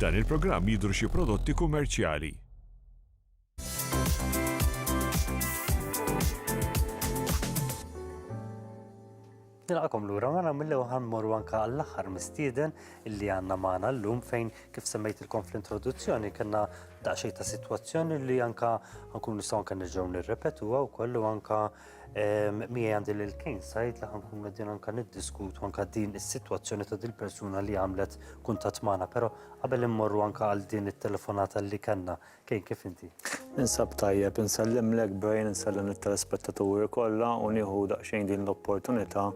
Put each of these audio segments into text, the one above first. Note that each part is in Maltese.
F'dan il-programm jidhru xi prodotti kummerċjali. Nilqakom lura ma nagħmlu ħan morru anke għall-aħħar mistieden illi għandna magħna llum fejn kif semmejtilkom fl-introduzzjoni kellna daqsxejn ta' sitwazzjoni li anke nkun nistgħu anke nerġgħu nirrepetuha wkoll u anke Mija għandi l-kejn sajt li ħankun għedin anka niddiskutu anka din is-sitwazzjoni ta' din persuna li għamlet kuntat magħna, però qabel immorru anka għal din it-telefonata li kellna. Kejn kif inti? Insab tajjeb, insellimlek Brian, insellem it-telespettaturi kollha u nieħu daqsxejn din l-opportunità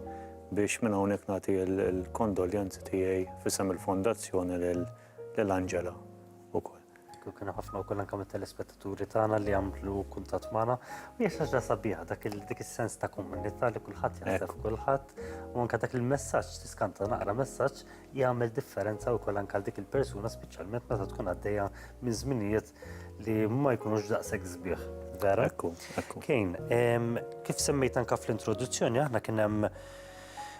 biex minn hawnhekk nagħti l-kondoljanzi tiegħi f'isem il-fondazzjoni lil Angela wkoll. u kienu ħafna wkoll anke mit-telespettaturi tagħna li għamlu kuntatt magħna. U hija xaġa sabiħa dak dik is-sens ta' komunità li kulħadd jaħseb kulħadd u anke dak il-messaġġ tiskanta naqra messaġġ jagħmel differenza wkoll anke għal dik il-persuna speċjalment meta tkun għaddejja minn żminijiet li ma jkunux daqshekk sbieħ. Vera? Ekku, ekku. Kejn, kif semmejt anke fl-introduzzjoni aħna kien hemm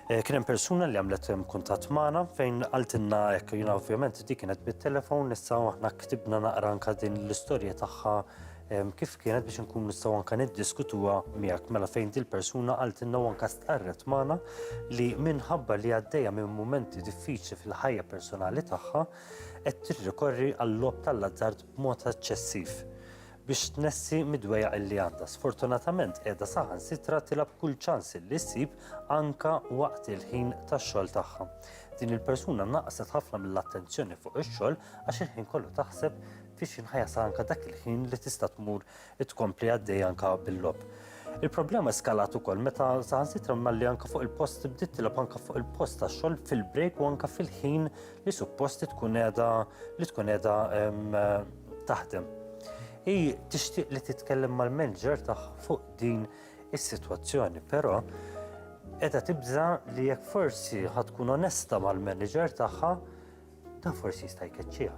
Eh, kien hemm persuna li għamlet eh, kuntatt magħna fejn qaltilna hekk jiena ovvjament dik kienet bit-telefon issa aħna ktibna naqra anka din l-istorja tagħha eh, kif kienet biex nkun nistgħu anka niddiskutuha miegħek mela fejn dil persuna qaltilna u anka stqarret magħna li minħabba li għaddejja minn mumenti diffiċli fil-ħajja personali tagħha qed tirrikorri għall-lob tal-azzard b'mod eċċessiv. biex tnessi mid-dwejjaq li għandha. Sfortunatament qiegħda saħansitra tilab kull ċans li ssib anka waqt il-ħin tax-xogħol tagħha. Din il-persuna naqset ħafna mill-attenzjoni fuq ix-xogħol għax il-ħin kollu taħseb fi xi nħajasa anka dak il-ħin li tista' tmur tkompli għaddej anka bil-lob. Il-problema eskalat ukoll meta saħansitra malli anka fuq il-post bdiet tilab anka fuq il-post ta' xogħol fil-break u anka fil-ħin li supposti tkun qiegħda li tkun qiegħda taħdem. Hi tixtieq li titkellem mal-manager tagħha fuq din is-sitwazzjoni, però qiegħda tibża li jekk forsi ħad tkun onesta mal-manager tagħha ta' forsi jista' jkeċċiha.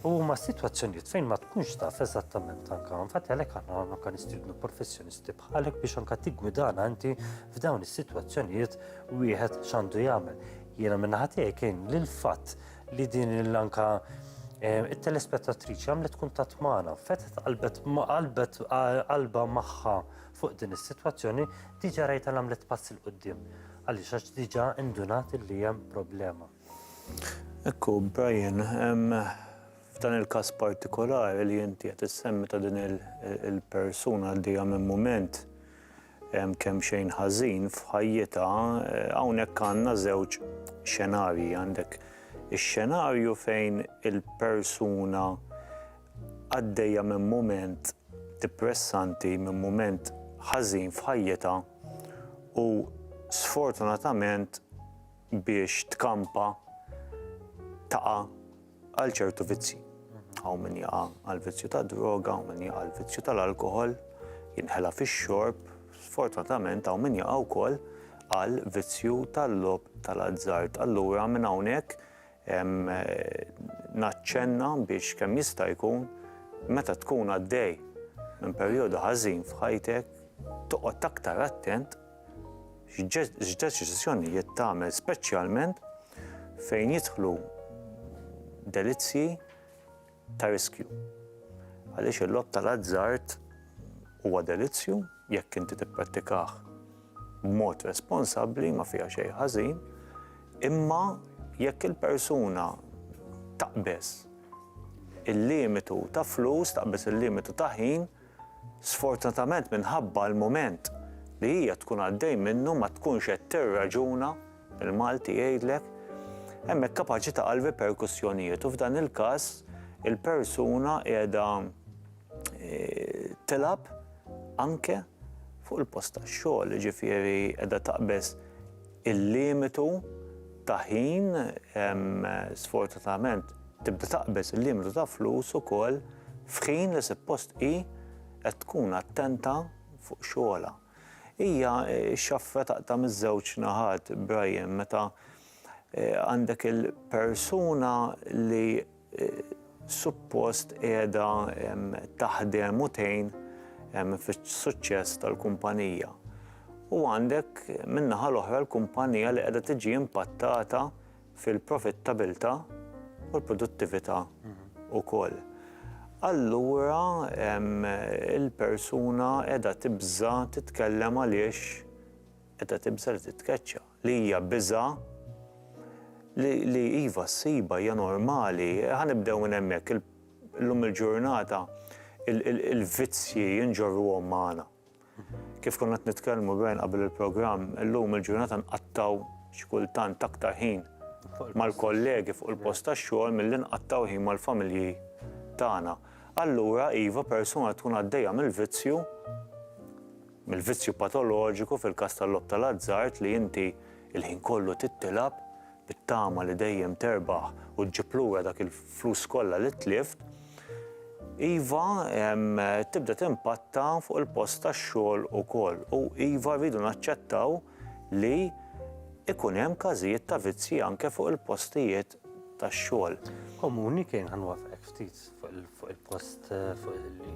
U ma situazzjonijiet fejn ma tkunx taf eżattament anka infatti għalhekk aħna anka nistiednu professjonisti bħalek biex anka tiggwidana inti f'dawn is-sitwazzjonijiet wieħed x'għandu jagħmel. Jiena minnaħa tiegħi kien lil fatt li din l-anka eh, il-telespettatriċi għamlet kuntat maħna, fetet qalbet qalbet qalba maħħa fuq din is-sitwazzjoni, diġa rajta għamlet pass il qoddim għaliex għax diġa indunat li hemm problema. Ekku, Brian, f'dan il-kas partikolari li jinti qed issemmi ta' din il-persuna għaddejja minn mument, kemxejn ħażin f'ħajjitha, hawnhekk għandna żewġ xenarji, għandek ix-xenarju fejn il-persuna għaddejja minn mument dippressanti, minn mument ħażin f'ħajjitha u sfortunatament biex tkampa taqa' għal ċertu vizzi. Hawn min jaqa' għal vizzju ta' droga, hawn min jaqa' għal vizzju tal-alkohol, jinħela fix-xorb, sfortunatament hawn min jaqa' wkoll għal vizzju tal-lob tal-azzard. Allura minn hawnhekk naċċenna biex kemm jista' jkun meta tkun għaddej minn perjodu ħażin f'ħajtek toqgħod aktar attent x'deċiżjonijiet tagħmel speċjalment fejn jidħlu delizzji ta' riskju. Għaliex il-lob tal-azzard huwa delizzju jekk inti tipprattikah b'mod responsabbli ma fiha xejn ħażin, imma jekk il-persuna taqbeż il-limitu ta' flus, taqbeż il-limitu ta' ħin, Sfortunatament minħabba l-mument li hija tkun għaddej minnu ma tkunx qed tirraġuna, il-Malti jgħidlek, hemmhekk kapaċi taqa' l-riperkussjonijiet u f'dan il-każ il-persuna qiegħda tilgħab anke fuq il-post tax-xogħol, jiġifieri qiegħda taqbeż. il-limitu ta' ħin, sfortunatament tibda taqbeż il-limitu ta' flus ukoll f'ħin li suppost hi qed tkun attenta fuq xogħolha. Hija x-xafra taqta' miż-żewġ naħat, Brian, meta għandek il-persuna li suppost qiegħda taħdem u tgħin fis-suċċess tal-kumpanija. U għandek min-naħa l-oħra l-kumpanija li qiegħda tiġi impattata fil-profittabilità u l-produttività wkoll. Allura il-persuna qiegħda tibża' titkellem għaliex qiegħda tibża' li titkeċċa. li hija biża' li li iva ssibha hija normali. Ħa nibdew minn hemmhekk, il llum il-ġurnata il il il-vizzji nġorruhom magħna. Kif konna qed nitkellmu Brian qabel il-programm, illum il-ġurnata nqattgħu xi kultant aktar ħin mal-kollegi fuq il-post tax-xogħol milli nqattgħu ħin mal-familji tagħna. Allura iva persuna tkun għaddejja mill-vizzju, mill-vizzju patoloġiku fil-każ tal-logħob tal-azzard li inti l-ħin kollu tittilgħab bit-tama li dejjem terbaħ u ġġib lura dak il-flus kollha li tlift, iva, tibda timpatta fuq il-post tax-xogħol ukoll u iva rridu naċċettaw li jkun hemm każijiet ta' vizzji anke fuq il-postijiet tax-xogħol. Komuni kien ħa nwaffqek ftit fuq il-post fuq il-li.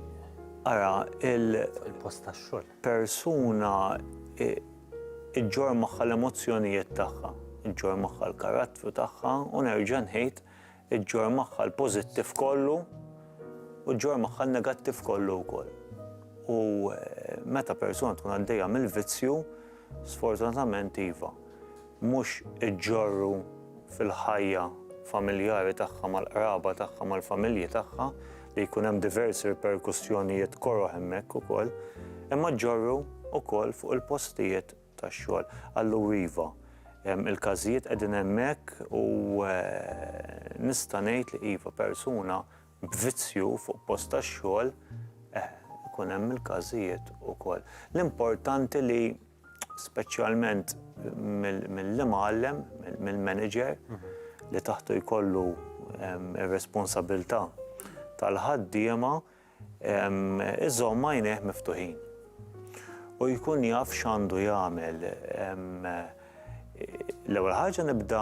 Ara, il-post tax-xogħol. Persuna iġġor magħha l-emozzjonijiet tagħha, iġġor magħha l-karattru tagħha u nerġa' nħid iġġor magħha l-pożittiv kollu u ġġor magħha l-negattiv kollu wkoll. U eh, meta persuna tkun għaddejja mill-vizzju, sfortunatament iva. mhux iġġorru fil-ħajja familjari tagħha mal-qraba tagħha mal-familji tagħha li jkun hemm diversi riperkussjonijiet koroh hemmhekk ukoll, imma ġġorru wkoll fuq il-postijiet tax-xogħol. Allura iva, il-każijiet qegħdin hemmhekk u nista' ngħid li iva persuna b'vizzju fuq post tax-xogħol, eh, ikun hemm il-każijiet ukoll. L-importanti li. speċjalment mill-imgħallem, mill-manager li taħtu jkollu ir-responsabilità tal-ħaddiema iżomm għajnejh miftuħin. U jkun jaf x'għandu jagħmel. L-ewwel ħaġa nibda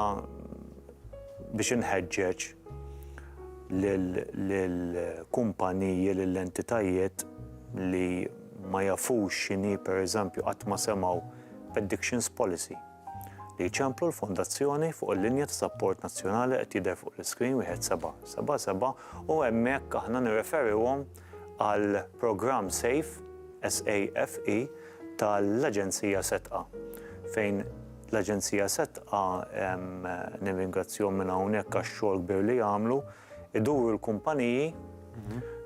biex inħeġġeġ lill-kumpaniji, lill-entitajiet li ma jafux x'inhi pereżempju qatt ma semgħu b'Addictions Policy li jċemplu l-Fondazzjoni fuq il-linja ta' sapport nazzjonali qed jidher fuq l-iskrin wieħed seba' seba' seba' u hemmhekk aħna nirreferihom għal programm safe SAFE tal-Aġenzija Setqa fejn l-Aġenzija Setqa nirringrazzjahom minn hawnhekk għax-xogħol kbir li jagħmlu iduru l-kumpaniji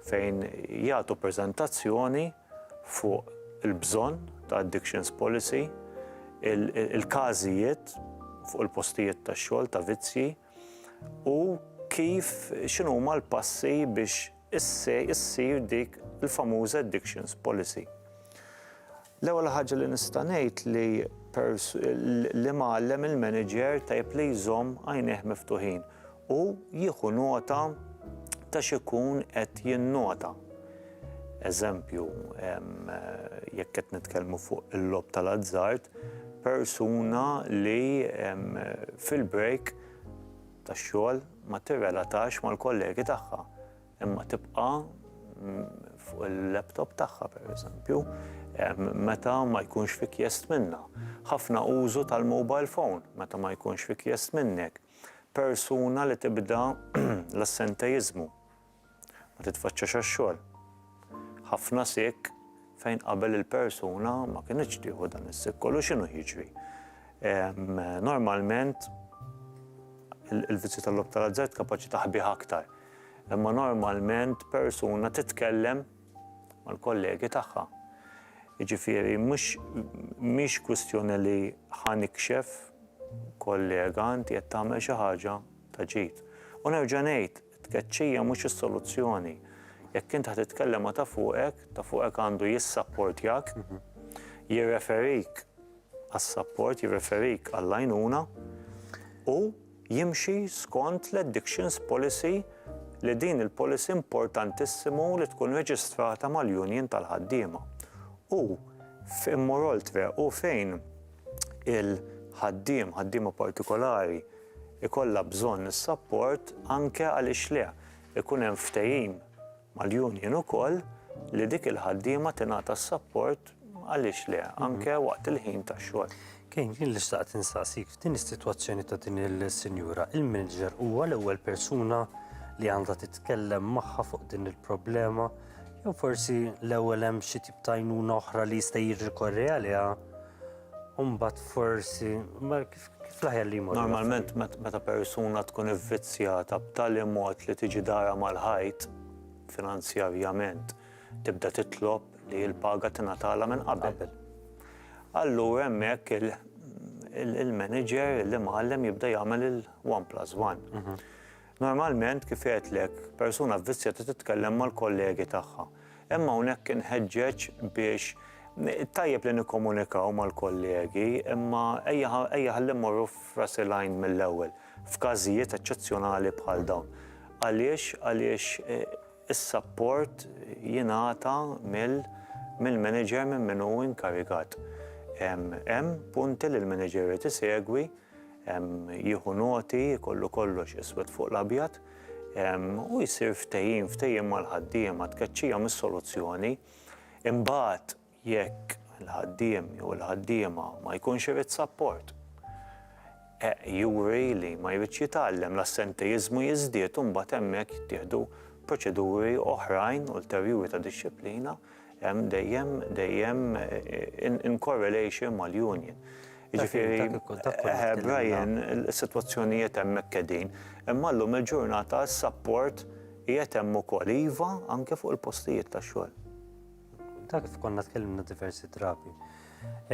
fejn jagħtu preżentazzjoni fuq il-bżonn ta' addictions policy, il-każijiet fuq il-postijiet tax-xogħol ta' vizzji u kif x'inhuma l-passi biex issir dik il-famuża addictions policy. L-ewwel ħaġa li nista' ngħid li l-imgħallem il-manager tajjeb li jżomm għajnejh miftuħin u jieħu nota ta' x'ikun qed jinnota. Eżempju, jekk qed nitkellmu fuq il-logħob tal-azzard, persuna li fil-break tax-xogħol ma tirrelatax mal-kollegi tagħha. Imma tibqa' fuq il-laptop tagħha pereżempju, meta ma jkunx fi kjest minnha. Ħafna użu tal-mobile phone meta ma jkunx fi kjest minnek. Persuna li tibda l-assentejiżmu, ma titfaċċax għax-xogħol. Ħafna sick fejn qabel il-persuna ma kinitx tieħu dan is-sick kollu x'inhu jiġri. Normalment il-vizzju tal-lob tal-azzard kapaċi taħbih aktar. Imma normalment persuna titkellem mal-kollegi tagħha. Jiġifieri mhux mhix kwistjoni li ħanikxef kollega inti qed tagħmel xi ħaġa ta' ġid. U nerġa' ngħid, Tkeċċija mhux is-soluzzjoni. Jekk int ħa titkellem ma' ta' fuqek, ta' fuqek għandu jissapportjak, jirreferik għas-sapport, jirreferik għall-għajnuna u jimxi skont l-addictions policy li din il-policy importantissimu li tkun reġistrata mal-union tal-ħaddiema. U f'moreoltre u fejn il-ħaddiem, ħaddiema partikolari, ikollha bżonn is-sapport anke għaliex le jkun hemm ftehim mal-union ukoll li dik il-ħaddiema tingħata s-sapport għaliex le anke waqt il-ħin tax-xogħol. Kien jien li xtaqt insaqsik f'din is-sitwazzjoni ta' din is-sinjura, il-manager huwa l-ewwel persuna li għandha titkellem magħha fuq din il-problema jew forsi l-ewwel hemm xi tip ta' għajnuna oħra li jista' jirrikorri għaliha u mbagħad forsi Normalment meta persuna tkun ivvizzjata b'tali mod li tiġi darha mal-ħajt finanzjarjament, tibda titlob li l-paga tingħatalha minn qabel. Allura hemmhekk il-manager, il-imgħallem jibda jagħmel il-one plus one. Normalment, kif għedtlek, persuna vvizzjata titkellem mal-kollegi tagħha. Hemm hawnhekk inħeġġeġ biex tajjeb li nikkomunikaw mal-kollegi, imma ejja ħalli mmorru f'ras il-għajn mill-ewwel, f'każijiet eċċezzjonali bħal dawn. Għaliex? Għaliex eh, is-sapport jingħata mill-manager minn min hu inkarigat. Hemm punti li l-manager irid isegwi jieħu noti, jkollu kollox iswed fuq l-abjad u jsir ftehim, ftehim mal-ħaddiema, tkeċċija mhix soluzzjoni. Imbagħad jekk il-ħaddiem jew il-ħaddiema ma jkunx irid sapport, juri li ma jridx jitgħallem, l-assentejiżmu jiżdied u mbagħad hemmhekk jittieħdu proċeduri oħrajn ulterjuri ta' dixxiplina. Hemm dejjem, dejjem in correlation mal-union. Jiġifieri, Brian, is-sitwazzjonijiet hemmhekk qegħdin. Imma llum il-ġurnata s-sapport qiegħed hemm ukoll, iva, anke fuq il-postijiet tax-xogħol. Ta' kif konna tkellimna diversi drabi.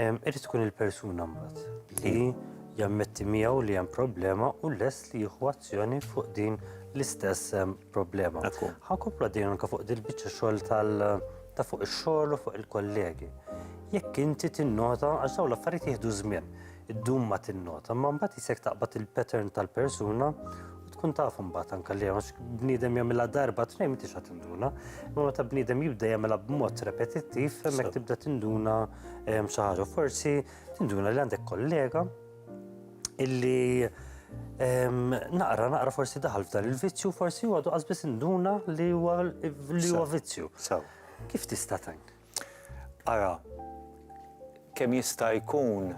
Irid tkun il-persuna mbagħad li jammetti miegħu li hemm problema u lest li jieħu azzjoni fuq din l-istess problema. Ħankomplu għaddejn anke fuq dil-biċċa xogħol tal ta' fuq ix-xogħol u fuq il-kollegi. Jekk inti tinnota għax dawn l-affarijiet jieħdu żmien, id-dum ma tinnota, ma mbagħad isek taqbad il-pattern tal-persuna tkun taf imbagħad anke li għax bniedem jagħmilha darba tnejn m'intix qed tinduna. Imma meta bniedem jibda jagħmilha b'mod repetittiv, hemmhekk tibda tinduna ehm, xi ħaġa. Forsi tinduna li għandek kollega illi ehm, naqra naqra forsi daħal f'dan il-vizzju, forsi huwa għadu qasbis induna li huwa li huwa vizzju. Kif tista' tajn? Ara, kemm jista' jkun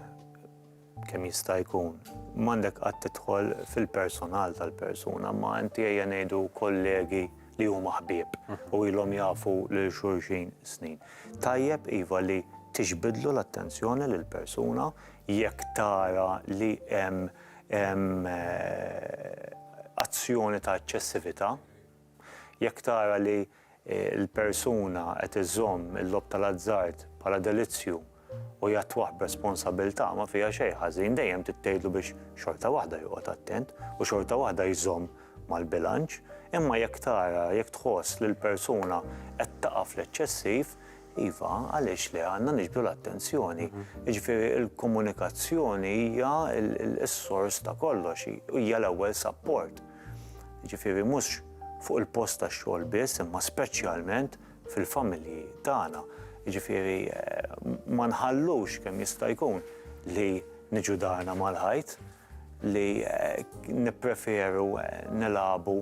kemm jista' jkun. M'għandek qatt tidħol fil-personal tal-persuna, imma inti ejja ngħidu kollegi li huma ħbieb u ilhom jafu lil xulxin snin. Tajjeb iva li tiġbidlu l-attenzjoni lill-persuna jekk tara li hemm azzjoni ta' eċċessività, jekk tara li il-persuna qed iżżomm il-logħob tal-azzard bħala delizzju u jattwah b'responsabilità ma fiha xejn ħażin, dejjem trid tgħidlu biex xorta waħda joqgħod attent u xorta waħda jżomm mal-bilanċ. Imma jekk tara, jekk tħoss li l-persuna qed taqa' fl-eċċessiv, iva, għaliex le, għandna niġbdu l-attenzjoni. Jiġifieri l-komunikazzjoni hija s-sors ta' kollox, hija l-ewwel sapport. Jiġifieri mhux fuq il-post tax-xogħol biss imma speċjalment fil-familji tagħna. Jiġifieri ma nħallux kemm jista' jkun li niġu darna mal-ħajt, li nippreferu nilagħbu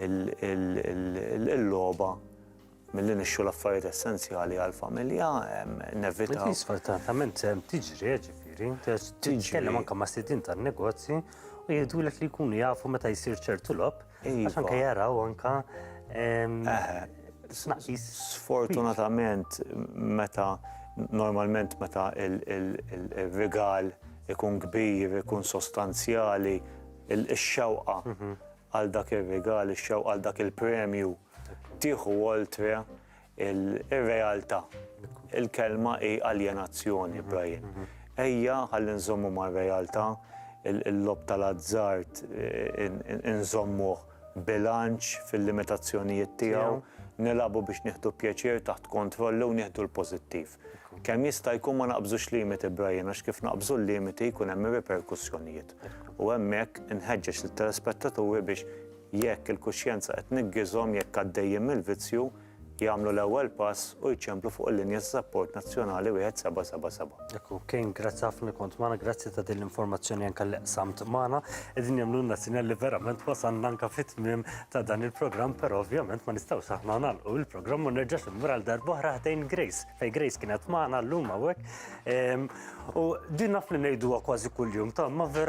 l-logħba Milli nixxu l-affarijiet essenzjali għall-familja, nevitaw. Li sfortunatament tiġri, jiġifieri, titkellem anke ma' sidien tan-negozji u jgħidulek li jkunu jafu meta jsir ċertu logħob, iva. għax anke jaraw anke tnaqqis. Sfortunatament meta normalment meta il-rigal ikun kbir, ikun sostanzjali, ix-xewqa mhm. għal dak ir-rigal, ix-xewqa għal dak il-premju Tieħu oltre il-realtà. Il-kelma hi aljenazzjoni, Brian. Ejja ħalli nżommu mar-realtà, il-lob tal-azzard inżommuh bilanċ fil-limitazzjonijiet tiegħu, nilagħbu biex nieħdu pjaċir taħt kontroll u nieħdu l-pożittiv. Kemm jista' jkun ma naqbżux limiti, Brian, għax kif naqbżu l-limiti jkun hemm ir-riperkussjonijiet. U hemmhekk inħeġġeġ lit-telespettaturi biex Jekk il-kuxjenza qed niggiżhom jekk għaddejjin mill-vizzju, jagħmlu l-ewwel pass u jċemplu fuq il-linja ta' sapport nazzjonali 1777. Hekk hu Kane, grazzi ħafna li kont magħna, grazzi ta' din l-informazzjoni anke li qsamt magħna. Qegħdin jagħmlulna sinjal li verament wasalna anke fit-tmiem ta' dan il-programm, però ovvjament ma nistgħux aħna nagħlqu il-programm u nerġax immur għal darb'oħra ħdejn Grace, fejn Grace kienet magħna llum hawnhekk. Ehm, u din naf li ngħiduha kważi kuljum, ta' ma vera